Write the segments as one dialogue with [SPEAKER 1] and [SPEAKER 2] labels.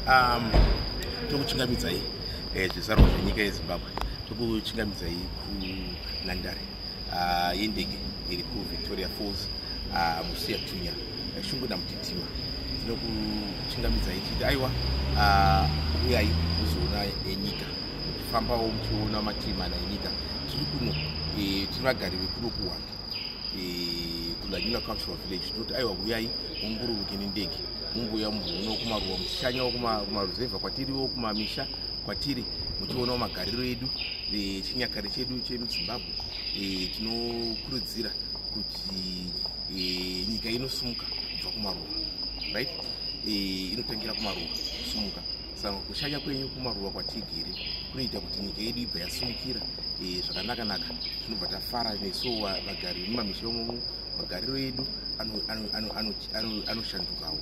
[SPEAKER 1] Um, tokuchingamidzai eh, zvizvarwa zvenyika yezimbabwe tokuchingamidzai kunhandare ah, yendege iri kuvictoria falls ah, musiya tunya eh, shungu namutitima tinokuchingamidzai chiti aiwa ah, uyai kuzoona enyika eh, muchifambawo muchiona matii mana enyika tiri kuno eh, tiri vagari vekuno kuhwanda eh, kulanyula cultural village tinoti aiwa huyai mumbururuke nendege mumbuya muno kumaruwa muchishanyawo kumaruzevha kwatiriwo kumamisha kwatiri muchionawo magariro edu eh, chinyakare chedu chemuzimbabwe tinokurudzira kuti nyika inosimuka kubva kumaruwa right inotangira kumaruwa kusumuka saka kushanya kwenyu kumaruva kwatigere kunoita kuti nyika yedu ibva yasumukira eh, zvakanaka naka tinobva tafara nesu vagari vemumamisha imomo magariro edu anoshandukawo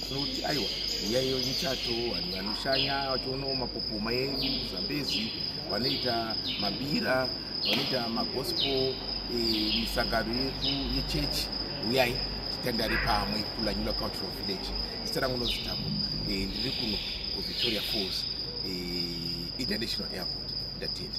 [SPEAKER 1] tinoti aiwa yaiyo michato vanhu vanoshanya vachionawo mapopoma edu zambezi vanoita mabira vanoita magospel eh, misangano yedu yechechi uyai titandare pamwe kulanyula cultural village zita rangu nozitako eh, ndiri kuno kuvictoria falls eh, international airport ndatenda